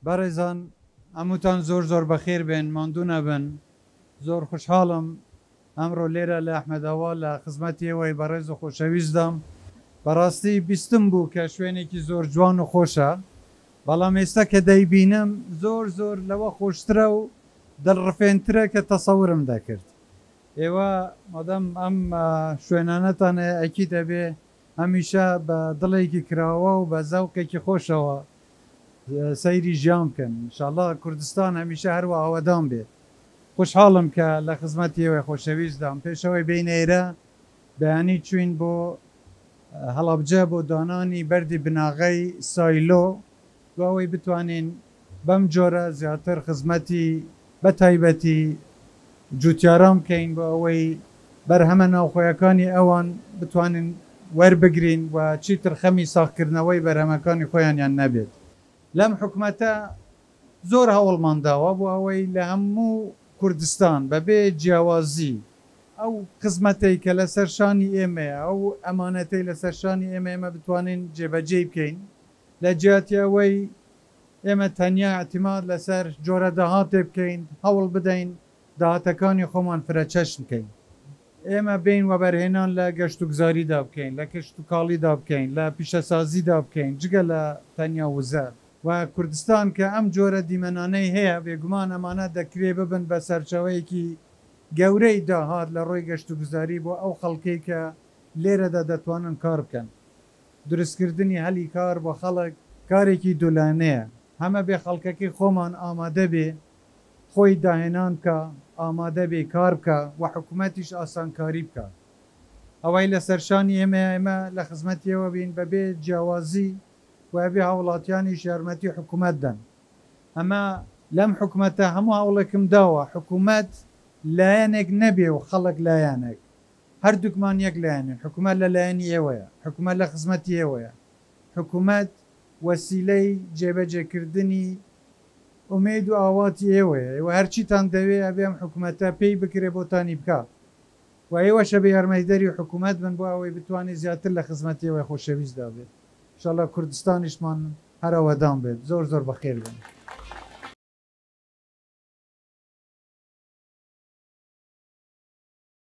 بەڕێزان هەمووتان زۆر زۆر بەخێربێن ماندوو نەبن زۆر خوشحاڵم ئەمڕۆ لێرە لە ئەحمەداوا لە خزمەتی ئێوەی بەڕێز و خۆشەویستدام، بەڕاستی بیستم بوو کە شوێنێکی زۆر جوان و خۆشە، بەڵام ئێستا کە دەیبینم زۆر زۆر لەوە خۆشترە و دڵڕفێنترە کە تەسەورم دەکرد. ئێوە مادام ئەم شوێنانەتان هەیە ئەکید ئەبێ هەمیشە بە دڵێکی کراوە و بە زەوقێکی خۆشەوە سەیری ژیان بکەن ان شاء اللە کوردستان هەمیشە هەروا ئاوەدان بێت خوشحاڵم کە لە خزمەتی ئێوەی خۆشەویستدام پێش ئەوەی بێینە ئێرە بەیانی چووین بۆ هەڵەبجە بۆ دانانی بەردی بناغەی سایلۆ بۆ ئەوەی بتوانین بەم جۆرە زیاتر خزمەتی بە تایبەتی جووتیاران بکەین بۆ ئەوەی بەرهەمە ناوخۆیەکانی ئەوان بتوانین وەربگرین و چیتر خەمی ساغکردنەوەی بەرهەمەکانی خۆیانیان نەبێت. لەم حکومەتە زۆر هەوڵمان داوە بۆ ئەوەی لە هەموو کوردستان بەبێ جیاوازی ئەو خزمەتەی کە لەسەر شانی ئێمەیە، ئەو ئەمانەتەی لەسەر شانی ئێمەیە ئێمە بتوانین جێبەجێی بکەین. لە جیاتی ئەوەی ئێمە تەنیا ئیعتیماد لەسەر جۆرە داهاتێ بکەین، هەوڵ بدەین داهاتەکانی خۆمان فرەچەشن بکەین. ئێمە بێین وەبەرهێنان لە گەشتوگوزاریدا بکەین، لە کشتوکاڵیدا بکەین، لە پیشەسازیدا بکەین، جگە لە تەنیا وزە. و کوردستان کە ئەم جۆرە دیمەنانەی هەیە، بێگومان ئەمانە دەکرێ ببن بە سەرچاوەیەکی گەورەی داهات لە ڕووی گەشتوگوزاری بۆ ئەو خەڵکەی کە لێرەدا دەتوانن کار بکەن. دروستکردنی هەلی کار بۆ خەڵک کارێکی دوولایەنەیە، هەمەبێ خەڵکەکەی خۆمان ئامادەبێ خۆی داهێنان بکا، ئامادەبێ کار بکا و حکومەتیش ئاسانکاری بکا. ئەوەی لەسەر شانی ئێمەیە ئێمە لە خزمەتی ئێوە بین بەبێ جیاوازی و ئەبێ هاوڵاتیانیش یارمەتی حکومەت دەن. ئەمە. لەم حکومەتە هەموو هەوڵێکم داوە حکومەت لایەنێک نەبێ و خەڵک لایەنێک. هەردووکمان یەک لایەنین، حکومەت لە لایەنی ئێوەیە، حکومەت لە خزمەتی ئێوەیە، حکومەت وەسیلەی جێبەجێکردنی ئومێد و ئاواتی ئێوەیە، ئێوە هەرچیتان دەوێ ئەبێ ئەم حکومەتە پێی بکرێ بۆتانی بکا و ئێوەش ئەبێ یارمەتیدەری حکومەت بن بۆ ئەوەی بتوانێ زیاتر لە خزمەتی ئێوەی خۆشەویستدا بێت. ان شاء اللە کوردستانیشمان هەر ئاوەدان بێت. زۆر زۆر بەخێربێن.